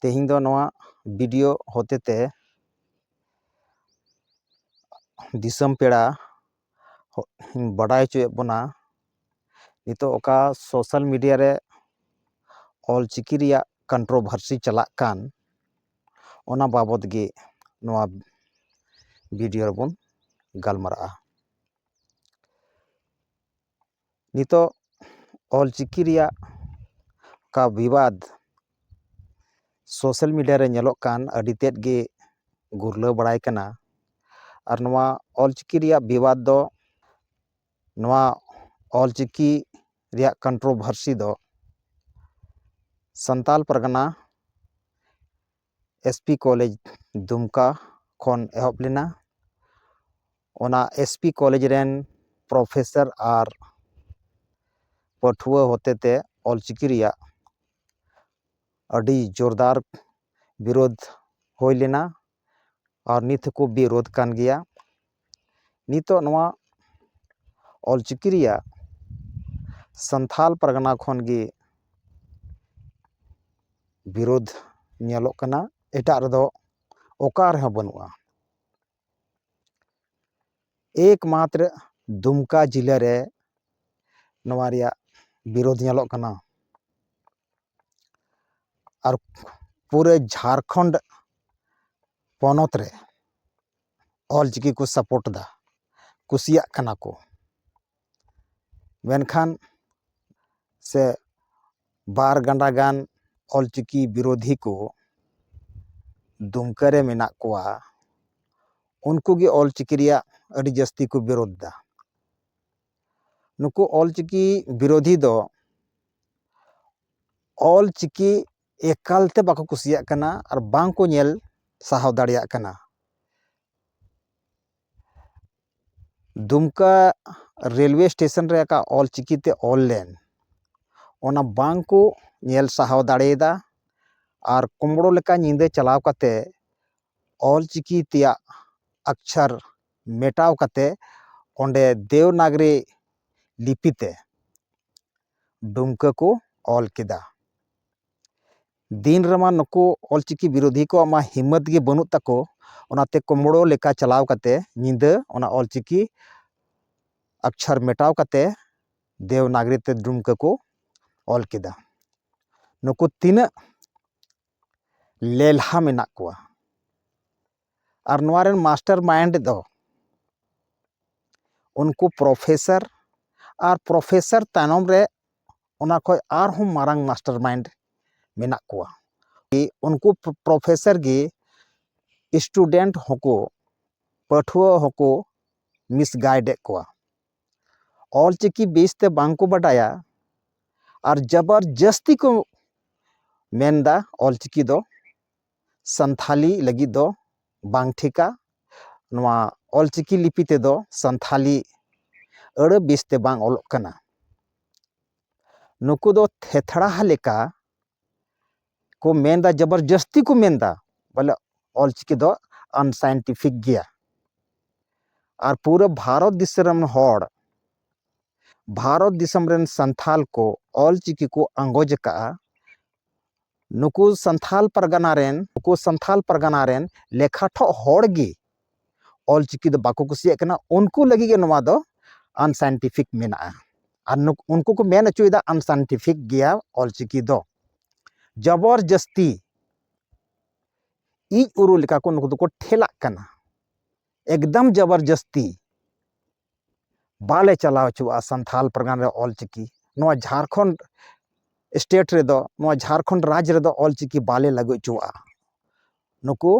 ᱛᱮᱦᱮᱧ ᱫᱚ ᱱᱚᱣᱟ ᱵᱷᱤᱰᱤᱭᱳ ᱦᱚᱛᱮ ᱛᱮ ᱫᱤᱥᱚᱢ ᱯᱮᱲᱟ ᱵᱟᱰᱟᱭ ᱦᱚᱪᱚᱭᱮᱫ ᱵᱚᱱᱟ ᱱᱤᱛᱳᱜ ᱚᱠᱟ ᱥᱳᱥᱟᱞ ᱢᱤᱰᱤᱭᱟ ᱨᱮ ᱚᱞ ᱪᱤᱠᱤ ᱨᱮᱭᱟᱜ ᱠᱚᱱᱴᱨᱳᱵᱷᱟᱨᱥᱤ ᱪᱟᱞᱟᱜ ᱠᱟᱱ ᱚᱱᱟ ᱵᱟᱵᱚᱫ ᱜᱮ ᱱᱚᱣᱟ ᱵᱷᱤᱰᱤᱭᱳ ᱨᱮᱵᱚᱱ ᱜᱟᱞᱢᱟᱨᱟᱜᱼᱟ ᱱᱤᱛᱚᱜ ᱚᱞ ᱪᱤᱠᱤ ᱨᱮᱭᱟᱜ ᱚᱠᱟ ᱵᱤᱵᱟᱫᱽ ᱥᱳᱥᱟᱞ ᱢᱤᱰᱤᱭᱟ ᱨᱮ ᱧᱮᱞᱚᱜ ᱠᱟᱱ ᱟᱹᱰᱤ ᱛᱮᱫ ᱜᱮ ᱜᱩᱨᱞᱟᱹᱣ ᱵᱟᱲᱟᱭ ᱠᱟᱱᱟ ᱟᱨ ᱱᱚᱣᱟ ᱚᱞ ᱪᱤᱠᱤ ᱨᱮᱭᱟᱜ ᱵᱤᱵᱟᱫᱽ ᱫᱚ ᱱᱚᱣᱟ ᱚᱞ ᱪᱤᱠᱤ ᱨᱮᱭᱟᱜ ᱠᱚᱱᱴᱨᱳᱵᱷᱟᱨᱥᱤ ᱫᱚ Santal Pargana S P college ᱫᱩᱢᱠᱟ ᱠᱷᱚᱱ ᱮᱦᱚᱵ ᱞᱮᱱᱟ ᱚᱱᱟ ᱮᱥ ᱯᱤ ᱠᱚᱞᱮᱡᱽ ᱨᱮᱱ ᱯᱨᱚᱯᱷᱮᱥᱟᱨ ᱟᱨ ᱯᱟᱹᱴᱷᱩᱣᱟᱹ ᱦᱚᱛᱮ ᱛᱮ ᱚᱞ ᱪᱤᱠᱤ ᱨᱮᱭᱟᱜ ᱟᱹᱰᱤ ᱡᱳᱨᱫᱟᱨ ᱵᱤᱨᱳᱫᱷ ᱦᱩᱭ ᱞᱮᱱᱟ ᱟᱨ ᱱᱤᱛ ᱦᱚᱸᱠᱚ ᱵᱤᱨᱳᱫᱷ ᱠᱟᱱ ᱜᱮᱭᱟ ᱱᱤᱛᱚᱜ ᱱᱚᱣᱟ ᱚᱞ ᱪᱤᱠᱤ ᱨᱮᱭᱟᱜ ᱥᱟᱱᱛᱷᱟᱞ ᱯᱟᱨᱜᱟᱱᱟ ᱠᱷᱚᱱ ᱜᱮ ᱵᱤᱨᱳᱫᱷ ᱧᱮᱞᱚᱜ ᱠᱟᱱᱟ ᱮᱴᱟᱜ ᱨᱮᱫᱚ ᱚᱠᱟ ᱨᱮᱦᱚᱸ ᱵᱟᱹᱱᱩᱜᱼᱟ ᱮᱠ ᱢᱟᱛᱨᱚ ᱫᱩᱢᱠᱟ ᱡᱮᱞᱟ ᱨᱮ ᱱᱚᱣᱟ ᱨᱮᱭᱟᱜ ᱵᱤᱨᱳᱫᱷ ᱧᱮᱞᱚᱜ ᱠᱟᱱᱟ ᱟᱨ ᱯᱩᱨᱟᱹ ᱡᱷᱟᱲᱠᱷᱚᱸᱰ ᱯᱚᱱᱚᱛ ᱨᱮ ᱚᱞ ᱪᱤᱠᱤ ᱠᱚ ᱥᱟᱯᱳᱨᱴ ᱮᱫᱟ ᱠᱩᱥᱤᱭᱟᱜ ᱠᱟᱱᱟ ᱠᱚ ᱢᱮᱱᱠᱷᱟᱱ ᱥᱮ ᱵᱟᱨ ᱜᱟᱱᱰᱟ ᱜᱟᱱ ᱚᱞ ᱪᱤᱠᱤ ᱵᱤᱨᱳᱫᱷᱤ ᱠᱚ ᱫᱩᱢᱠᱟᱹ ᱨᱮ ᱢᱮᱱᱟᱜ ᱠᱚᱣᱟ ᱩᱱᱠᱩ ᱜᱮ ᱚᱞ ᱪᱤᱠᱤ ᱨᱮᱭᱟᱜ ᱟᱹᱰᱤ ᱡᱟᱹᱥᱛᱤ ᱠᱚ ᱵᱤᱨᱳᱫᱷ ᱮᱫᱟ ᱱᱩᱠᱩ ᱚᱞ ᱪᱤᱠᱤ ᱵᱤᱨᱳᱫᱷᱤ ᱫᱚ ᱚᱞ ᱪᱤᱠᱤ ᱮᱠᱟᱞᱛᱮ ᱵᱟᱠᱚ ᱠᱩᱥᱤᱭᱟᱜ ᱠᱟᱱᱟ ᱟᱨ ᱵᱟᱝ ᱠᱚ ᱧᱮᱞ ᱥᱟᱦᱟᱣ ᱫᱟᱲᱮᱭᱟᱜ ᱠᱟᱱᱟ ᱫᱩᱢᱠᱟ ᱨᱮᱞᱣᱮ ᱥᱴᱮᱥᱚᱱ ᱨᱮ ᱟᱠᱟ ᱚᱞ ᱪᱤᱠᱤᱛᱮ ᱚᱞ ᱞᱮᱱ ᱚᱱᱟ ᱵᱟᱝ ᱠᱚ ᱧᱮᱞ ᱥᱟᱦᱟᱣ ᱫᱟᱲᱮᱭᱟᱫᱟ ᱟᱨ ᱠᱩᱢᱲᱳ ᱞᱮᱠᱟ ᱧᱤᱫᱟᱹ ᱪᱟᱞᱟᱣ ᱠᱟᱛᱮ ᱚᱞ ᱪᱤᱠᱤ ᱛᱮᱭᱟᱜ ᱟᱠᱪᱷᱟᱨ ᱢᱮᱴᱟᱣ ᱠᱟᱛᱮ ᱚᱸᱰᱮ ᱫᱮᱣᱱᱟᱜᱽᱨᱤ ᱞᱤᱯᱤᱛᱮ ᱰᱩᱢᱠᱟᱹ ᱠᱚ ᱚᱞ ᱠᱮᱫᱟ ᱫᱤᱱ ᱨᱮᱢᱟ ᱱᱩᱠᱩ ᱚᱞᱪᱤᱠᱤ ᱵᱤᱨᱳᱫᱷᱤ ᱠᱚᱣᱟᱜ ᱢᱟ ᱦᱤᱢᱢᱚᱛ ᱜᱮ ᱵᱟᱹᱱᱩᱜ ᱛᱟᱠᱚ ᱚᱱᱟᱛᱮ ᱠᱩᱢᱲᱳ ᱞᱮᱠᱟ ᱪᱟᱞᱟᱣ ᱠᱟᱛᱮ ᱧᱤᱫᱟᱹ ᱚᱱᱟ ᱚᱞᱪᱤᱠᱤ ᱟᱠᱪᱷᱟᱨ ᱢᱮᱴᱟᱣ ᱠᱟᱛᱮ ᱫᱮᱣᱱᱟᱜᱽᱨᱤ ᱛᱮ ᱰᱩᱢᱠᱟᱹ ᱠᱚ ᱚᱞ ᱠᱮᱫᱟ ᱱᱩᱠᱩ ᱛᱤᱱᱟᱹᱜ ᱞᱮᱞᱦᱟ ᱢᱮᱱᱟᱜ ᱠᱚᱣᱟ ᱟᱨ ᱱᱚᱣᱟ ᱨᱮᱱ ᱢᱟᱥᱴᱟᱨ ᱢᱟᱭᱤᱱᱰ ᱫᱚ ᱩᱱᱠᱩ ᱯᱨᱚᱯᱷᱮᱥᱟᱨ ᱟᱨ ᱯᱨᱚᱯᱷᱮᱥᱟᱨ ᱛᱟᱭᱱᱚᱢ ᱨᱮ ᱚᱱᱟ ᱠᱷᱚᱱ ᱟᱨᱦᱚᱸ ᱢᱟᱨᱟᱝ ᱢᱟᱥᱴᱟᱨ ᱢᱟᱭᱤᱱᱰ ᱢᱮᱱᱟᱜ ᱠᱚᱣᱟ ᱩᱱᱠᱩ ᱯᱨᱚᱯᱷᱮᱥᱟᱨ ᱜᱮ ᱥᱴᱩᱰᱮᱱᱴ ᱦᱚᱸᱠᱚ ᱯᱟᱹᱴᱷᱩᱣᱟᱹ ᱦᱚᱸᱠᱚ ᱢᱤᱥᱜᱟᱭᱤᱰ ᱮᱫ ᱠᱚᱣᱟ ᱚᱞᱪᱤᱠᱤ ᱵᱮᱥ ᱛᱮ ᱵᱟᱝ ᱠᱚ ᱵᱟᱰᱟᱭᱟ ᱟᱨ ᱡᱚᱵᱚᱨ ᱡᱟᱹᱥᱛᱤ ᱠᱚ ᱢᱮᱱᱫᱟ ᱚᱞᱪᱤᱠᱤ ᱫᱚ ᱥᱟᱱᱛᱷᱟᱞᱤ ᱞᱟᱹᱜᱤᱫ ᱫᱚ ᱵᱟᱝ ᱴᱷᱤᱠᱟ ᱱᱚᱣᱟ ᱚᱞᱪᱤᱠᱤ ᱞᱤᱯᱤ ᱛᱮᱫᱚ ᱥᱟᱱᱛᱷᱟᱞᱤ ᱟᱹᱲᱟᱹ ᱵᱮᱥ ᱛᱮ ᱵᱟᱝ ᱚᱞᱚᱜ ᱠᱟᱱᱟ ᱱᱩᱠᱩ ᱫᱚ ᱛᱷᱮᱛᱷᱲᱟᱦᱟ ᱞᱮᱠᱟ ᱠᱚ ᱢᱮᱱᱫᱟ ᱡᱚᱵᱚᱨ ᱡᱟᱹᱥᱛᱤ ᱠᱚ ᱢᱮᱱᱫᱟ ᱵᱚᱞᱮ ᱚᱞᱪᱤᱠᱤ ᱫᱚ ᱟᱱᱥᱟᱭᱮᱱᱴᱤᱯᱷᱤᱠ ᱜᱮᱭᱟ ᱟᱨ ᱯᱩᱨᱟᱹ ᱵᱷᱟᱨᱚᱛ ᱫᱤᱥᱚᱢ ᱨᱮᱱ ᱦᱚᱲ ᱵᱷᱟᱨᱚᱛ ᱫᱤᱥᱚᱢ ᱨᱮᱱ ᱥᱟᱱᱛᱷᱟᱞ ᱠᱚ ᱚᱞᱪᱤᱠᱤ ᱠᱚ ᱟᱸᱜᱚᱡ ᱟᱠᱟᱫᱼᱟ ᱱᱩᱠᱩ ᱥᱟᱱᱛᱷᱟᱞ ᱯᱟᱨᱜᱟᱱᱟ ᱨᱮᱱ ᱱᱩᱠᱩ ᱥᱟᱱᱛᱷᱟᱞ ᱯᱟᱨᱜᱟᱱᱟ ᱨᱮᱱ ᱞᱮᱠᱷᱟ ᱴᱷᱚᱜ ᱦᱚᱲ ᱜᱮ ᱚᱞ ᱪᱤᱠᱤ ᱫᱚ ᱵᱟᱠᱚ ᱠᱩᱥᱤᱭᱟᱜ ᱠᱟᱱᱟ ᱩᱱᱠᱩ ᱞᱟᱹᱜᱤᱫ ᱜᱮ ᱱᱚᱣᱟ ᱫᱚ ᱟᱱᱥᱟᱭᱮᱱᱴᱤᱯᱷᱤᱠ ᱢᱮᱱᱟᱜᱼᱟ ᱟᱨ ᱩᱱᱠᱩ ᱠᱚ ᱢᱮᱱ ᱦᱚᱪᱚᱭᱮᱫᱟ ᱟᱱᱥᱟᱭᱮᱱᱴᱤᱯᱷᱤᱠ ᱜᱮᱭᱟ ᱚᱞ ᱪᱤᱠᱤ ᱫᱚ ᱡᱚᱵᱚᱨ ᱡᱟᱹᱥᱛᱤ ᱤᱡ ᱩᱨᱩ ᱞᱮᱠᱟ ᱠᱚ ᱱᱩᱠᱩ ᱫᱚᱠᱚ ᱴᱷᱮᱞᱟᱜ ᱠᱟᱱᱟ ᱮᱠᱫᱚᱢ ᱡᱚᱵᱚᱨ ᱡᱟᱹᱥᱛᱤ ᱵᱟᱞᱮ ᱪᱟᱞᱟᱣ ᱦᱚᱪᱚᱣᱟᱜᱼᱟ ᱥᱟᱱᱛᱷᱟᱞ ᱯᱟᱨᱜᱟᱱᱟ ᱨᱮ ᱚᱞ ᱪᱤᱠᱤ ᱱᱚᱣᱟ ᱡᱷᱟᱲᱠᱷᱚᱸᱰ ᱥᱴᱮᱴ ᱨᱮᱫᱚ ᱱᱚᱣᱟ ᱡᱷᱟᱲᱠᱷᱚᱸᱰ ᱨᱟᱡᱽ ᱨᱮᱫᱚ ᱚᱞ ᱪᱤᱠᱤ ᱵᱟᱞᱮ ᱞᱟᱹᱜᱩ ᱦᱚᱪᱚᱣᱟᱜᱼᱟ ᱱᱩᱠᱩ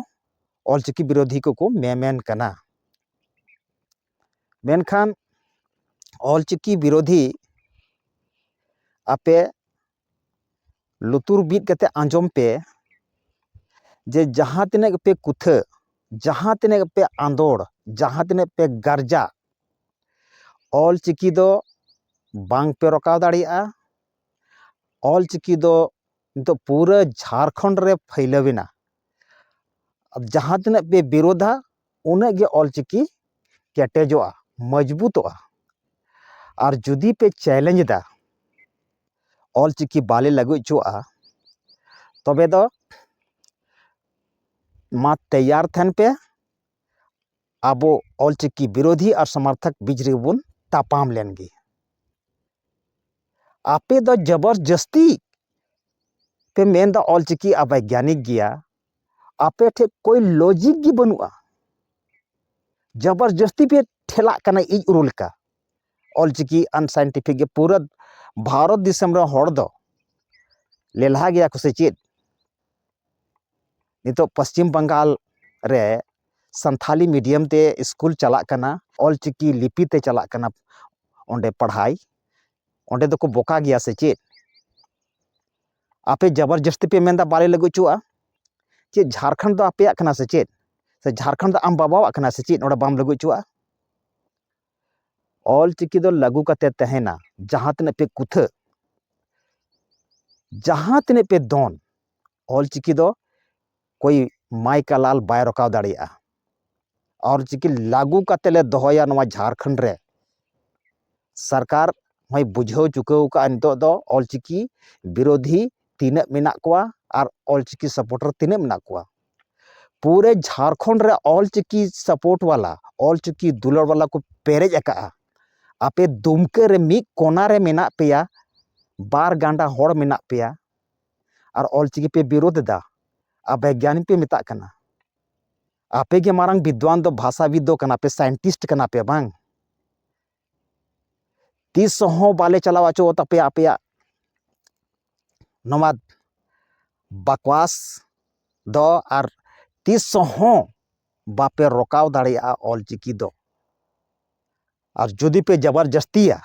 ᱚᱞ ᱪᱤᱠᱤ ᱵᱤᱨᱳᱫᱷᱤ ᱠᱚᱠᱚ ᱢᱮᱢᱮᱱ ᱠᱟᱱᱟ ᱢᱮᱱᱠᱷᱟᱱ ᱚᱞ ᱪᱤᱠᱤ ᱵᱤᱨᱳᱫᱷᱤ ᱟᱯᱮ ᱞᱩᱛᱩᱨ ᱵᱤᱫ ᱠᱟᱛᱮ ᱟᱸᱡᱚᱢ ᱯᱮ ᱡᱮ ᱡᱟᱦᱟᱸ ᱛᱤᱱᱟᱹᱜ ᱜᱮᱯᱮ ᱠᱩᱛᱷᱟᱹ ᱡᱟᱦᱟᱸ ᱛᱤᱱᱟᱹᱜ ᱜᱮᱯᱮ ᱟᱸᱫᱚᱲ ᱡᱟᱦᱟᱸ ᱛᱤᱱᱟᱹᱜ ᱯᱮ ᱜᱟᱨᱡᱟ ᱚᱞ ᱪᱤᱠᱤ ᱫᱚ ᱵᱟᱝ ᱯᱮ ᱨᱚᱠᱟᱣ ᱫᱟᱲᱮᱭᱟᱜᱼᱟ ᱚᱞ ᱪᱤᱠᱤ ᱫᱚ ᱱᱤᱛᱚᱜ ᱯᱩᱨᱟᱹ ᱡᱷᱟᱲᱠᱷᱚᱸᱰ ᱨᱮ ᱯᱷᱟᱹᱭᱞᱟᱹᱣ ᱮᱱᱟ ᱡᱟᱦᱟᱸ ᱛᱤᱱᱟᱹᱜ ᱯᱮ ᱵᱤᱨᱳᱫᱷᱟ ᱩᱱᱟᱹᱜ ᱜᱮ ᱚᱞ ᱪᱤᱠᱤ ᱠᱮᱴᱮᱡᱚᱜᱼᱟ ᱢᱚᱡᱽᱵᱩᱛᱚᱜᱼᱟ ᱟᱨ ᱡᱩᱫᱤ ᱯᱮ ᱪᱮᱞᱮᱧᱡᱽ ᱮᱫᱟ ᱚᱞ ᱪᱤᱠᱤ ᱵᱟᱞᱮ ᱞᱟᱹᱜᱩ ᱦᱚᱪᱚᱣᱟᱜᱼᱟ ᱛᱚᱵᱮ ᱫᱚ ᱢᱟ ᱛᱮᱭᱟᱨ ᱛᱟᱦᱮᱱ ᱯᱮ ᱟᱵᱚ ᱚᱞ ᱪᱤᱠᱤ ᱵᱤᱨᱳᱫᱷᱤ ᱟᱨ ᱥᱚᱢᱚᱨᱛᱷᱚᱠ ᱵᱤᱪ ᱨᱮᱜᱮ ᱵᱚᱱ ᱛᱟᱯᱟᱢ ᱞᱮᱱ ᱜᱮ ᱟᱯᱮ ᱫᱚ ᱡᱚᱵᱚᱨ ᱡᱟᱹᱥᱛᱤ ᱯᱮ ᱢᱮᱱ ᱮᱫᱟ ᱚᱞ ᱪᱤᱠᱤ ᱟᱵᱚᱭᱜᱟᱱᱤᱠ ᱜᱮᱭᱟ ᱟᱯᱮ ᱴᱷᱮᱡ ᱠᱳᱭ ᱞᱚᱡᱤᱠ ᱜᱮ ᱵᱟᱹᱱᱩᱜᱼᱟ ᱡᱚᱵᱚᱨᱡᱚᱥᱛᱤ ᱯᱮ ᱴᱷᱮᱞᱟᱜ ᱠᱟᱱᱟ ᱤᱡ ᱩᱨᱩ ᱞᱮᱠᱟ ᱚᱞ ᱪᱤᱠᱤ ᱟᱱᱥᱟᱭᱮᱱᱴᱤᱯᱷᱤᱠ ᱜᱮ ᱯᱩᱨᱟᱹ ᱵᱷᱟᱨᱚᱛ ᱫᱤᱥᱚᱢ ᱨᱮᱱ ᱦᱚᱲ ᱫᱚ ᱞᱮᱞᱦᱟ ᱜᱮᱭᱟ ᱠᱚ ᱥᱮ ᱪᱮᱫ ᱱᱤᱛᱚᱜ ᱯᱚᱥᱪᱤᱢ ᱵᱟᱝᱜᱟᱞ ᱨᱮ ᱥᱟᱱᱛᱷᱟᱞᱤ ᱢᱤᱰᱤᱭᱟᱢ ᱛᱮ ᱥᱠᱩᱞ ᱪᱟᱞᱟᱜ ᱠᱟᱱᱟ ᱚᱞ ᱪᱤᱠᱤ ᱞᱤᱯᱤ ᱛᱮ ᱪᱟᱞᱟᱜ ᱠᱟᱱᱟ ᱚᱸᱰᱮ ᱯᱟᱲᱦᱟᱭ ᱚᱸᱰᱮ ᱫᱚᱠᱚ ᱵᱚᱠᱟ ᱜᱮᱭᱟ ᱥᱮ ᱪᱮᱫ ᱟᱯᱮ ᱡᱟᱵᱚᱨ ᱡᱟᱹᱥᱛᱤ ᱯᱮ ᱢᱮᱱᱫᱟ ᱵᱟᱞᱮ ᱞᱟᱹᱜᱩ ᱦᱚᱪᱚᱣᱟᱜᱼᱟ ᱪᱮᱫ ᱡᱷᱟᱲᱠᱷᱚᱸᱰ ᱫᱚ ᱟᱯᱮᱭᱟᱜ ᱠᱟᱱᱟ ᱥᱮ ᱪᱮᱫ ᱥᱮ ᱡᱷᱟᱲᱠᱷᱚᱸᱰ ᱫᱚ ᱟᱢ ᱵᱟᱵᱟᱣᱟᱜ ᱠᱟᱱᱟ ᱥᱮ ᱪᱮᱫ ᱱᱚᱰᱮ ᱵᱟᱢ ᱞᱟᱹᱜᱩ ᱦᱚᱪᱚᱣᱟᱜᱼᱟ ᱚᱞ ᱪᱤᱠᱤ ᱫᱚ ᱞᱟᱹᱜᱩ ᱠᱟᱛᱮ ᱛᱟᱦᱮᱱᱟ ᱡᱟᱦᱟᱸ ᱛᱤᱱᱟᱹᱜ ᱯᱮ ᱠᱩᱛᱷᱟᱹ ᱡᱟᱦᱟᱸ ᱛᱤᱱᱟᱹᱜ ᱯᱮ ᱫᱚᱱ ᱚᱞ ᱪᱤᱠᱤ ᱫᱚ ᱠᱳᱭ ᱢᱟᱭᱠᱟ ᱞᱟᱞ ᱵᱟᱭ ᱨᱚᱠᱟᱣ ᱫᱟᱲᱮᱭᱟᱜᱼᱟ ᱚᱞ ᱪᱤᱠᱤ ᱞᱟᱹᱜᱩ ᱠᱟᱛᱮ ᱞᱮ ᱫᱚᱦᱚᱭᱟ ᱱᱚᱣᱟ ᱡᱷᱟᱲᱠᱷᱚᱸᱰ ᱨᱮ ᱥᱚᱨᱠᱟᱨ ᱦᱚᱸᱭ ᱵᱩᱡᱷᱟᱹᱣ ᱪᱩᱠᱟᱹᱣ ᱠᱟᱜᱼᱟ ᱱᱤᱛᱚᱜ ᱫᱚ ᱚᱞ ᱪᱤᱠᱤ ᱵᱤᱨᱳᱫᱷᱤ ᱛᱤᱱᱟᱹᱜ ᱢᱮᱱᱟᱜ ᱠᱚᱣᱟ ᱟᱨ ᱚᱞ ᱪᱤᱠᱤ ᱥᱟᱯᱳᱴᱟᱨ ᱛᱤᱱᱟᱹᱜ ᱢᱮᱱᱟᱜ ᱠᱚᱣᱟ ᱯᱩᱨᱟᱹ ᱡᱷᱟᱲᱠᱷᱚᱸᱰ ᱨᱮ ᱚᱞ ᱪᱤᱠᱤ ᱥᱟᱯᱳᱨᱴ ᱵᱟᱞᱟ ᱚᱞ ᱪᱤᱠᱤ ᱫᱩᱞᱟᱹᱲ ᱵᱟᱞᱟ ᱠᱚ ᱯᱮᱨᱮᱡ ᱟᱠᱟᱜᱼᱟ ᱟᱯᱮ ᱫᱩᱢᱠᱟᱹ ᱨᱮ ᱢᱤᱫ ᱠᱚᱱᱟ ᱨᱮ ᱢᱮᱱᱟᱜ ᱯᱮᱭᱟ ᱵᱟᱨ ᱜᱟᱱᱰᱟ ᱦᱚᱲ ᱢᱮᱱᱟᱜ ᱯᱮᱭᱟ ᱟᱨ ᱚᱞᱪᱤᱠᱤ ᱯᱮ ᱵᱤᱨᱳᱫᱷ ᱮᱫᱟ ᱟᱨ ᱵᱤᱜᱽᱜᱟᱱᱤ ᱯᱮ ᱢᱮᱛᱟᱜ ᱠᱟᱱᱟ ᱟᱯᱮ ᱜᱮ ᱢᱟᱨᱟᱝ ᱵᱤᱫᱽᱫᱟᱱ ᱫᱚ ᱵᱷᱟᱥᱟᱵᱤᱫ ᱫᱚ ᱠᱟᱱᱟ ᱯᱮ ᱥᱟᱭᱮᱱᱴᱤᱥᱴ ᱠᱟᱱᱟ ᱯᱮ ᱵᱟᱝ ᱛᱤᱥ ᱦᱚᱸ ᱵᱟᱞᱮ ᱪᱟᱞᱟᱣ ᱦᱚᱪᱚ ᱟᱛᱟᱯᱮᱭᱟ ᱟᱯᱮᱭᱟᱜ ᱱᱚᱣᱟ ᱵᱟᱠᱚᱣᱟᱥ ᱫᱚ ᱟᱨ ᱛᱤᱥ ᱦᱚᱸ ᱵᱟᱯᱮ ᱨᱚᱠᱟᱣ ᱫᱟᱲᱮᱭᱟᱜᱼᱟ ᱚᱞᱪᱤᱠᱤ ᱫᱚ ᱟᱨ ᱡᱩᱫᱤ ᱯᱮ ᱡᱟᱵᱟᱨ ᱡᱟᱹᱥᱛᱤᱭᱟ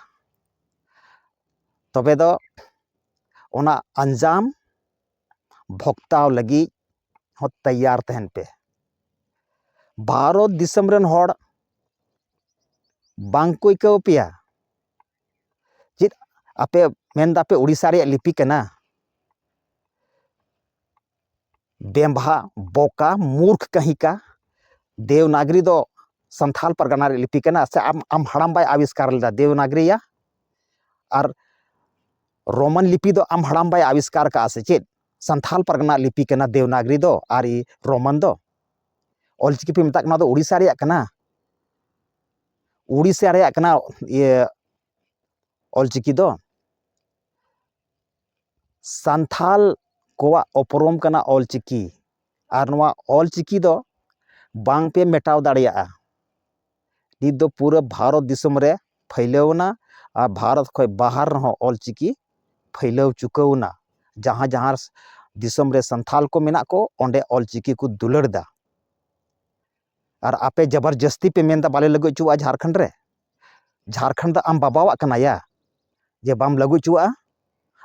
ᱛᱚᱵᱮ ᱫᱚ ᱚᱱᱟ ᱟᱧᱡᱟᱢ ᱵᱷᱚᱠᱛᱟᱣ ᱞᱟᱹᱜᱤᱫ ᱦᱚᱸ ᱛᱮᱭᱟᱨ ᱛᱟᱦᱮᱱ ᱯᱮ ᱵᱷᱟᱨᱚᱛ ᱫᱤᱥᱚᱢ ᱨᱮᱱ ᱦᱚᱲ ᱵᱟᱝ ᱠᱚ ᱟᱹᱭᱠᱟᱹᱣ ᱯᱮᱭᱟ ᱪᱮᱫ ᱟᱯᱮ ᱢᱮᱱ ᱫᱟᱯᱮ ᱳᱰᱤᱥᱟ ᱨᱮᱭᱟᱜ ᱞᱤᱯᱤ ᱠᱟᱱᱟ ᱰᱮᱢᱵᱷᱟ ᱵᱚᱠᱟ ᱢᱩᱨᱠᱷ ᱠᱟᱹᱦᱤ ᱠᱟ ᱫᱮᱣᱱᱟᱜᱽᱨᱤ ᱫᱚ ᱥᱟᱱᱛᱷᱟᱞ ᱯᱟᱨᱜᱟᱱᱟ ᱨᱮᱭᱟᱜ ᱞᱤᱯᱤ ᱠᱟᱱᱟ ᱥᱮ ᱟᱢ ᱟᱢ ᱦᱟᱲᱟᱢ ᱵᱟᱭ ᱟᱵᱤᱥᱠᱟᱨ ᱞᱮᱫᱟ ᱫᱮᱣᱱᱟᱜᱽᱨᱤᱭᱟ ᱟᱨ ᱨᱳᱢᱟᱱ ᱞᱤᱯᱤ ᱫᱚ ᱟᱢ ᱦᱟᱲᱟᱢ ᱵᱟᱭ ᱟᱵᱤᱥᱠᱟᱨ ᱠᱟᱜᱼᱟ ᱥᱮ ᱪᱮᱫ ᱥᱟᱱᱛᱷᱟᱞ ᱯᱟᱨᱜᱟᱱᱟ ᱨᱮᱭᱟᱜ ᱞᱤᱯᱤ ᱠᱟᱱᱟ ᱫᱮᱣᱱᱟᱜᱽᱨᱤ ᱫᱚ ᱟᱨ ᱨᱳᱢᱟᱱ ᱫᱚ ᱚᱞ ᱪᱤᱠᱤ ᱯᱮ ᱢᱮᱛᱟᱜ ᱠᱟᱱᱟ ᱫᱚ ᱩᱲᱤᱥᱥᱟ ᱨᱮᱭᱟᱜ ᱠᱟᱱᱟ ᱩᱲᱤᱥᱥᱟ ᱨᱮᱭᱟᱜ ᱠᱟᱱᱟ ᱤᱭᱟᱹ ᱚᱞ ᱪᱤᱠᱤ ᱫᱚ ᱥᱟᱱᱛᱷᱟᱞ ᱠᱚᱣᱟᱜ ᱩᱯᱨᱩᱢ ᱠᱟᱱᱟ ᱚᱞ ᱪᱤᱠᱤ ᱟᱨ ᱱᱚᱣᱟ ᱚᱞ ᱪᱤᱠᱤ ᱫᱚ ᱵᱟᱝ ᱯᱮ ᱢᱮᱴᱟᱣ ᱫᱟᱲᱮᱭᱟᱜᱼᱟ ᱱᱤᱛ ᱫᱚ ᱯᱩᱨᱟᱹ ᱵᱷᱟᱨᱚᱛ ᱫᱤᱥᱚᱢ ᱨᱮ ᱯᱷᱟᱹᱭᱞᱟᱹᱣ ᱮᱱᱟ ᱟᱨ ᱵᱷᱟᱨᱚᱛ ᱠᱷᱚᱱ ᱵᱟᱦᱟᱨ ᱨᱮᱦᱚᱸ ᱚᱞ ᱪᱤᱠᱤ ᱯᱷᱟᱹᱭᱞᱟᱹᱣ ᱪᱩᱠᱟᱹᱣ ᱮᱱᱟ ᱡᱟᱦᱟᱸ ᱡᱟᱦᱟᱸ ᱫᱤᱥᱚᱢ ᱨᱮ ᱥᱟᱱᱛᱷᱟᱞ ᱠᱚ ᱢᱮᱱᱟᱜ ᱠᱚ ᱚᱸᱰᱮ ᱚᱞ ᱪᱤᱠᱤ ᱠᱚ ᱫᱩᱞᱟᱹᱲ ᱮᱫᱟ ᱟᱨ ᱟᱯᱮ ᱡᱟᱵᱟᱨ ᱡᱟᱹᱥᱛᱤ ᱯᱮ ᱢᱮᱱᱫᱟ ᱵᱟᱞᱮ ᱞᱟᱹᱜᱩ ᱦᱚᱪᱚᱣᱟᱜᱼᱟ ᱡᱷᱟᱲᱠᱷᱚᱸᱰ ᱨᱮ ᱡᱷᱟᱲᱠᱷᱚᱸᱰ ᱫᱚ ᱟᱢ ᱵᱟᱵᱟᱣᱟᱜ ᱠᱟᱱᱟ ᱭᱟ ᱡᱮ ᱵᱟᱢ ᱞᱟᱹᱜᱩ ᱦᱚᱪᱚᱣᱟᱜᱼᱟ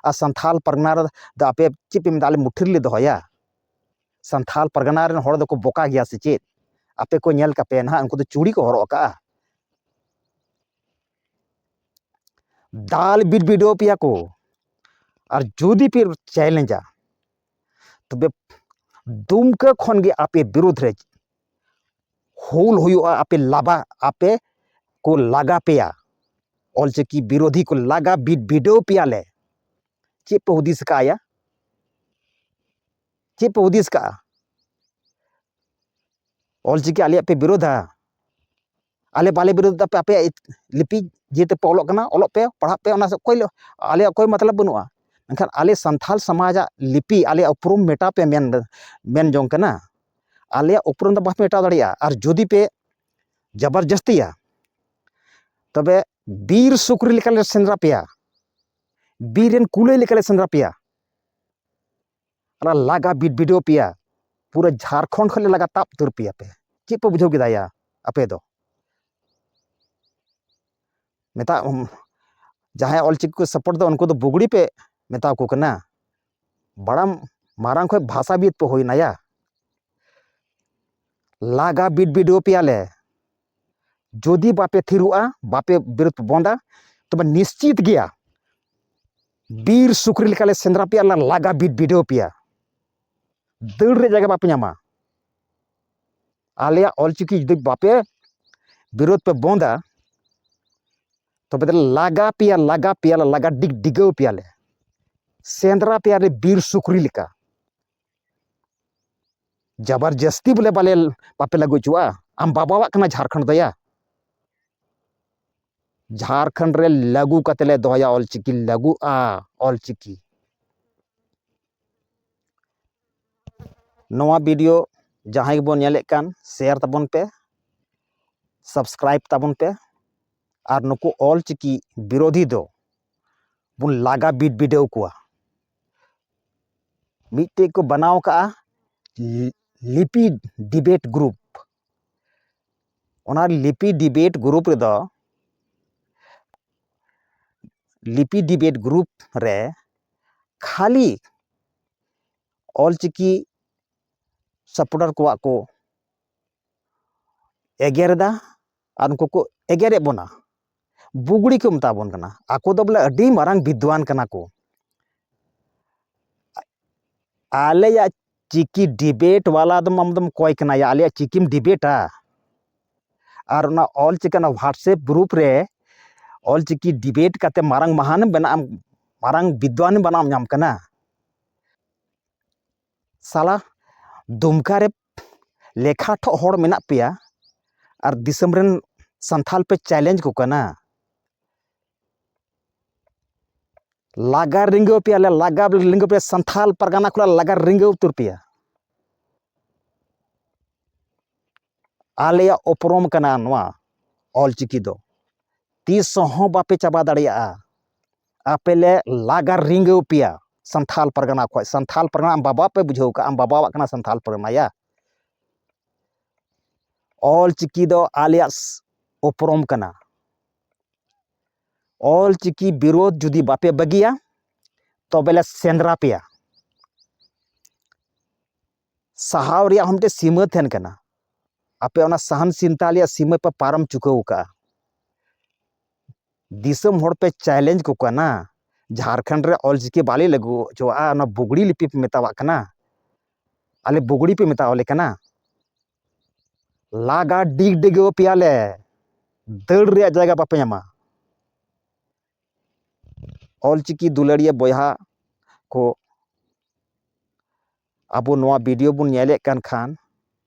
ᱟᱨ ᱥᱟᱱᱛᱷᱟᱞ ᱯᱟᱨᱜᱟᱱᱟ ᱨᱮᱫᱚ ᱟᱯᱮ ᱪᱮᱫ ᱯᱮ ᱢᱮᱱᱫᱟ ᱟᱞᱮ ᱢᱩᱴᱷᱟᱹ ᱨᱮᱞᱮ ᱫᱚᱦᱚᱭᱟ ᱥᱟᱱᱛᱷᱟᱞ ᱯᱟᱨᱜᱟᱱᱟ ᱨᱮᱱ ᱦᱚᱲ ᱫᱚᱠᱚ ᱵᱚᱠᱟ ᱜᱮᱭᱟ ᱥᱮ ᱪᱮᱫ ᱟᱯᱮ ᱠᱚ ᱧᱮᱞ ᱠᱟᱯᱮ ᱱᱟᱦᱟᱜ ᱩᱱᱠᱩ ᱫᱚ ᱪᱩᱲᱤ ᱠᱚ ᱦᱚᱨᱚᱜ ᱟᱠᱟᱜᱼᱟ ᱫᱟᱞ ᱵᱤᱨ ᱵᱤᱰᱟᱹᱣ ᱯᱮᱭᱟ ᱠᱚ ᱟᱨ ᱡᱩᱫᱤ ᱯᱮ ᱪᱮᱞᱮᱧᱡᱟ ᱛᱚᱵᱮ ᱫᱩᱢᱠᱟᱹ ᱠᱷᱚᱱ ᱜᱮ ᱟᱯᱮ ᱵᱤᱨᱩᱫᱷ ᱨᱮ ᱦᱩᱞ ᱦᱩᱭᱩᱜᱼᱟ ᱟᱯᱮ ᱞᱟᱵᱟ ᱟᱯᱮ ᱠᱚ ᱞᱟᱜᱟ ᱯᱮᱭᱟ ᱚᱞᱪᱤᱠᱤ ᱵᱤᱨᱳᱫᱷᱤ ᱠᱚ ᱞᱟᱜᱟ ᱵᱤᱫ ᱵᱤᱰᱟᱹᱣ ᱯᱮᱭᱟᱞᱮ ᱪᱮᱫ ᱯᱮ ᱦᱩᱫᱤᱥ ᱠᱟᱜᱼᱟ ᱪᱮᱫ ᱯᱮ ᱦᱩᱫᱤᱥ ᱠᱟᱜᱼᱟ ᱚᱞᱪᱤᱠᱤ ᱟᱞᱮᱭᱟᱜ ᱯᱮ ᱵᱤᱨᱳᱫᱷᱟ ᱟᱞᱮ ᱵᱟᱞᱮ ᱵᱤᱨᱳᱫᱷ ᱮᱫᱟ ᱟᱯᱮᱭᱟᱜ ᱞᱤᱯᱤ ᱡᱮ ᱛᱮᱯᱮ ᱚᱞᱚᱜ ᱠᱟᱱᱟ ᱚᱞᱚᱜ ᱯᱮ ᱯᱟᱲᱦᱟᱜ ᱯᱮ ᱚᱱᱟ ᱥᱮᱫ ᱚᱠᱚᱭ ᱟᱞᱮᱭᱟᱜ ᱠᱳᱭ ᱢᱚᱛᱞᱚᱵ ᱵᱟᱹᱱᱩᱜᱼᱟ ᱢᱮᱱᱠᱷᱟᱱ ᱟᱞᱮ ᱥᱟᱱᱛᱟᱲ ᱥᱚᱢᱟᱡᱟᱜ ᱞᱤᱯᱤ ᱟᱞᱮᱭᱟᱜ ᱩᱯᱨᱩᱢ ᱢᱮᱴᱟᱣ ᱯᱮ ᱢᱮᱱ ᱢᱮᱱ ᱡᱚᱝ ᱠᱟᱱᱟ ᱟᱞᱮᱭᱟᱜ ᱩᱯᱨᱩᱢ ᱫᱚ ᱵᱟᱯᱮ ᱢᱮᱴᱟᱣ ᱫᱟᱲᱮᱭᱟᱜᱼᱟ ᱟᱨ ᱡᱩᱫᱤ ᱯᱮ ᱡᱟᱵᱟᱨ ᱡᱟᱹᱥᱛᱤᱭᱟ ᱛᱚᱵᱮ ᱵᱤᱨ ᱥᱩᱠᱨᱤ ᱞᱮᱠᱟᱞᱮ ᱥᱮᱸᱫᱽᱨᱟ ᱯᱮᱭᱟ ᱵᱤᱨ ᱨᱮᱱ ᱠᱩᱞᱟᱹᱭ ᱞᱮᱠᱟᱞᱮ ᱥᱮᱸᱫᱽᱨᱟ ᱯᱮᱭᱟ ᱚᱱᱟ ᱞᱟᱜᱟ ᱵᱤᱰᱟᱹᱣ ᱯᱮᱭᱟ ᱯᱩᱨᱟᱹ ᱡᱷᱟᱲᱠᱷᱚᱸᱰ ᱠᱷᱚᱱ ᱞᱮ ᱞᱟᱜᱟ ᱛᱟᱵ ᱩᱛᱟᱹᱨ ᱯᱮᱭᱟ ᱯᱮ ᱪᱮᱫ ᱯᱮ ᱵᱩᱡᱷᱟᱹᱣ ᱠᱮᱫᱟ ᱭᱟ ᱟᱯᱮ ᱫᱚ ᱢᱮᱛᱟ ᱡᱟᱦᱟᱸᱭ ᱚᱞᱪᱤᱠᱤ ᱠᱚ ᱥᱟᱯᱳᱨᱴ ᱫᱚ ᱩᱱᱠᱩ ᱫᱚ ᱵᱩᱜᱽᱲᱤ ᱯᱮ ᱢᱮᱛᱟ ᱠᱚ ᱠᱟᱱᱟ ᱵᱟᱲᱟᱢ ᱢᱟᱨᱟᱝ ᱠᱷᱚᱡ ᱵᱷᱟᱥᱟᱵᱤᱫ ᱯᱮ ᱦᱩᱭᱱᱟ ᱭᱟ ᱞᱟᱜᱟ ᱵᱤᱰ ᱵᱤᱰᱟᱹᱣ ᱯᱮᱭᱟᱞᱮ ᱡᱩᱫᱤ ᱵᱟᱯᱮ ᱛᱷᱤᱨᱚᱜᱼᱟ ᱵᱟᱯᱮ ᱵᱤᱨᱩᱫ ᱵᱚᱱᱫᱟ ᱛᱚᱵᱮ ᱱᱤᱥᱪᱤᱛ ᱜᱮᱭᱟ ᱵᱤᱨ ᱥᱩᱠᱨᱤ ᱞᱮᱠᱟᱞᱮ ᱥᱮᱸᱫᱽᱨᱟ ᱯᱮᱭᱟ ᱟᱨ ᱞᱟᱜᱟ ᱵᱤᱫ ᱵᱤᱰᱟᱹᱣ ᱯᱮᱭᱟ ᱫᱟᱹᱲ ᱨᱮ ᱡᱟᱭᱜᱟ ᱵᱟᱯᱮ ᱧᱟᱢᱟ ᱟᱞᱮᱭᱟᱜ ᱚᱞᱪᱤᱠᱤ ᱡᱩᱫᱤ ᱵᱟᱯᱮ ᱵᱤᱨᱳᱫ ᱯᱮ ᱵᱚᱱᱫᱟ ᱛᱚᱵᱮ ᱫᱚ ᱞᱟᱜᱟ ᱯᱮᱭᱟ ᱞᱟᱜᱟ ᱯᱮᱭᱟ ᱞᱟᱜᱟ ᱰᱤᱜ ᱰᱤᱜᱟᱹᱣ ᱯᱮᱭᱟᱞᱮ ᱥᱮᱸᱫᱽᱨᱟ ᱯᱮᱭᱟᱞᱮ ᱵᱤᱨ ᱥᱩᱠᱨᱤ ᱞᱮᱠᱟ ᱡᱟᱵᱟᱨ ᱡᱟᱹᱥᱛᱤ ᱵᱚᱞᱮ ᱵᱟᱞᱮ ᱵᱟᱯᱮ ᱞᱟᱹᱜᱩ ᱦᱚᱪᱚᱣᱟᱜᱼᱟ ᱟᱢ ᱵᱟᱵᱟᱣᱟᱜ ᱠᱟᱱᱟ ᱡᱷᱟᱲᱠᱷᱚᱸᱰ ᱫᱚᱭᱟ ᱡᱷᱟᱲᱠᱷᱚᱸᱰ ᱨᱮ ᱞᱟᱹᱜᱩ ᱠᱟᱛᱮ ᱞᱮ ᱫᱚᱦᱚᱭᱟ ᱚᱞᱪᱤᱠᱤ ᱞᱟᱹᱜᱩᱜᱼᱟ ᱚᱞᱪᱤᱠᱤ ᱱᱚᱣᱟ ᱵᱷᱤᱰᱤᱭᱳ ᱡᱟᱦᱟᱸᱭ ᱜᱮᱵᱚᱱ ᱧᱮᱞᱮᱫ ᱠᱟᱱ ᱥᱮᱭᱟᱨ ᱛᱟᱵᱚᱱ ᱯᱮ ᱥᱟᱵᱥᱠᱨᱟᱭᱤᱵ ᱛᱟᱵᱚᱱ ᱯᱮ ᱟᱨ ᱱᱩᱠᱩ ᱚᱞᱪᱤᱠᱤ ᱵᱤᱨᱳᱫᱷᱤ ᱫᱚ ᱵᱚᱱ ᱞᱟᱜᱟ ᱵᱤᱰ ᱵᱤᱰᱟᱹᱣ ᱠᱚᱣᱟ ᱢᱤᱫᱴᱮᱡ ᱠᱚ ᱵᱟᱱᱟᱣ ᱠᱟᱜᱼᱟ ᱞᱤᱯᱤᱰ ᱰᱤᱵᱮᱴ ᱜᱨᱩᱯ ᱚᱱᱟ ᱞᱤᱯᱤ ᱰᱤᱵᱮᱴ ᱜᱨᱩᱯ ᱨᱮᱫᱚ ᱞᱤᱯᱤ ᱰᱤᱵᱮᱴ ᱜᱨᱩᱯ ᱨᱮ ᱠᱷᱟᱹᱞᱤ ᱚᱞᱪᱤᱠᱤ ᱥᱟᱯᱚᱴᱟᱨ ᱠᱚᱣᱟᱜ ᱠᱚ ᱮᱜᱮᱨᱮᱫᱟ ᱟᱨ ᱩᱱᱠᱩ ᱠᱚ ᱮᱜᱮᱨᱮᱫ ᱵᱚᱱᱟ ᱵᱩᱜᱽᱲᱤ ᱠᱚ ᱢᱮᱛᱟ ᱵᱚᱱ ᱠᱟᱱᱟ ᱟᱠᱚ ᱫᱚ ᱵᱚᱞᱮ ᱟᱹᱰᱤ ᱢᱟᱨᱟᱝ ᱵᱤᱫᱽᱫᱟᱱ ᱠᱟᱱᱟ ᱠᱚ ᱟᱞᱮᱭᱟᱜ ᱪᱤᱠᱤ ᱰᱤᱵᱮᱴ ᱵᱟᱞᱟ ᱫᱚ ᱟᱢ ᱫᱚᱢ ᱚᱠᱚᱭ ᱠᱟᱱᱟᱭᱟ ᱟᱞᱮᱭᱟᱜ ᱪᱤᱠᱤᱢ ᱰᱤᱵᱮᱴᱟ ᱟᱨ ᱚᱱᱟ ᱚᱞ ᱪᱤᱠᱤ ᱚᱱᱟ ᱦᱳᱣᱟᱴᱥᱮᱯ ᱜᱨᱩᱯ ᱨᱮ ᱚᱞ ᱪᱤᱠᱤ ᱰᱤᱵᱮᱴ ᱠᱟᱛᱮ ᱢᱟᱨᱟᱝ ᱢᱟᱦᱟᱱᱮᱢ ᱵᱮᱱᱟᱜ ᱟᱢ ᱢᱟᱨᱟᱝ ᱵᱤᱫᱽᱫᱟᱱᱮᱢ ᱵᱮᱱᱟᱜ ᱧᱟᱢ ᱠᱟᱱᱟ ᱥᱟᱞᱟ ᱫᱩᱢᱠᱟ ᱨᱮ ᱞᱮᱠᱷᱟ ᱴᱷᱚᱜ ᱦᱚᱲ ᱢᱮᱱᱟᱜ ᱯᱮᱭᱟ ᱟᱨ ᱫᱤᱥᱚᱢ ᱨᱮᱱ ᱥᱟᱱᱛᱷᱟᱞ ᱯᱮ ᱪᱮᱞᱮᱧᱡᱽ ᱠᱚ ᱠᱟᱱᱟ ᱞᱟᱜᱟ ᱨᱤᱸᱜᱟᱹᱣ ᱯᱮᱭᱟ ᱞᱮ ᱞᱟᱜᱟ ᱨᱤᱸᱜᱟᱹᱣ ᱯᱮᱭᱟ ᱥᱟᱱᱛᱷᱟᱞ ᱯᱟᱨᱜᱟᱱᱟ ᱠᱷᱚᱱᱟᱜ ᱞᱟᱜᱟ ᱨᱤᱸᱜᱟᱹᱣ ᱩᱛᱟᱹᱨ ᱯᱮᱭᱟ ᱟᱞᱮᱭᱟᱜ ᱩᱯᱨᱩᱢ ᱠᱟᱱᱟ ᱱᱚᱣᱟ ᱚᱞ ᱪᱤᱠᱤ ᱫᱚ ᱛᱤᱥ ᱦᱚᱸ ᱵᱟᱯᱮ ᱪᱟᱵᱟ ᱫᱟᱲᱮᱭᱟᱜᱼᱟ ᱟᱯᱮ ᱞᱮ ᱞᱟᱜᱟ ᱨᱤᱡᱷᱟᱹᱣ ᱯᱮᱭᱟ ᱥᱟᱱᱛᱷᱟᱞ ᱯᱟᱨᱜᱟᱱᱟ ᱠᱷᱚᱱ ᱥᱟᱱᱛᱷᱟᱞ ᱯᱟᱨᱜᱟᱱᱟ ᱟᱢ ᱵᱟᱵᱟ ᱯᱮ ᱵᱩᱡᱷᱟᱹᱣ ᱠᱟᱜᱼᱟ ᱟᱢ ᱵᱟᱵᱟᱣᱟᱜ ᱠᱟᱱᱟ ᱥᱟᱱᱛᱷᱟᱞ ᱯᱟᱨᱜᱟᱱᱟ ᱭᱟ ᱚᱞ ᱪᱤᱠᱤ ᱫᱚ ᱟᱞᱮᱭᱟᱜ ᱩᱯᱨᱩᱢ ᱠᱟᱱᱟ ᱚᱞ ᱪᱤᱠᱤ ᱵᱤᱨᱳᱫᱷ ᱡᱩᱫᱤ ᱵᱟᱯᱮ ᱵᱟᱹᱜᱤᱭᱟ ᱛᱚᱵᱮ ᱞᱮ ᱥᱮᱸᱫᱽᱨᱟ ᱯᱮᱭᱟ ᱥᱟᱦᱟᱣ ᱨᱮᱭᱟᱜ ᱦᱚᱸ ᱢᱤᱫᱴᱮᱱ ᱥᱤᱢᱟᱹ ᱛᱟᱦᱮᱱ ᱠᱟᱱᱟ ᱟᱯᱮ ᱚᱱᱟ ᱥᱟᱦᱟᱱ ᱥᱤᱱᱛᱟ ᱨᱮᱭᱟᱜ ᱥᱤᱢᱟᱹ ᱯᱮ ᱯᱟᱨᱚᱢ ᱪᱩᱠᱟᱹᱣ ᱠᱟᱜᱼᱟ ᱫᱤᱥᱚᱢ ᱦᱚᱲ ᱯᱮ ᱪᱮᱞᱮᱧᱡᱽ ᱠᱚ ᱠᱟᱱᱟ ᱡᱷᱟᱲᱠᱷᱚᱸᱰ ᱨᱮ ᱚᱞᱪᱤᱠᱤ ᱵᱟᱞᱮ ᱞᱟᱹᱜᱩ ᱦᱚᱪᱚᱣᱟᱜᱼᱟ ᱚᱱᱟ ᱵᱩᱜᱽᱲᱤ ᱞᱤᱯᱤ ᱯᱮ ᱢᱮᱛᱟᱣᱟᱜ ᱠᱟᱱᱟ ᱟᱞᱮ ᱵᱩᱜᱽᱲᱤ ᱯᱮ ᱢᱮᱛᱟᱣᱟᱞᱮ ᱠᱟᱱᱟ ᱞᱟᱜᱟ ᱰᱤᱜᱽ ᱰᱤᱜᱟᱹᱣ ᱯᱮᱭᱟᱞᱮ ᱫᱟᱹᱲ ᱨᱮᱭᱟᱜ ᱡᱟᱭᱜᱟ ᱵᱟᱯᱮ ᱧᱟᱢᱟ ᱚᱞᱪᱤᱠᱤ ᱫᱩᱞᱟᱹᱲᱤᱭᱟᱹ ᱵᱚᱭᱦᱟ ᱠᱚ ᱟᱵᱚ ᱱᱚᱣᱟ ᱵᱷᱤᱰᱤᱭᱳ ᱵᱚᱱ ᱧᱮᱞᱮᱫ ᱠᱟᱱ ᱠᱷᱟᱱ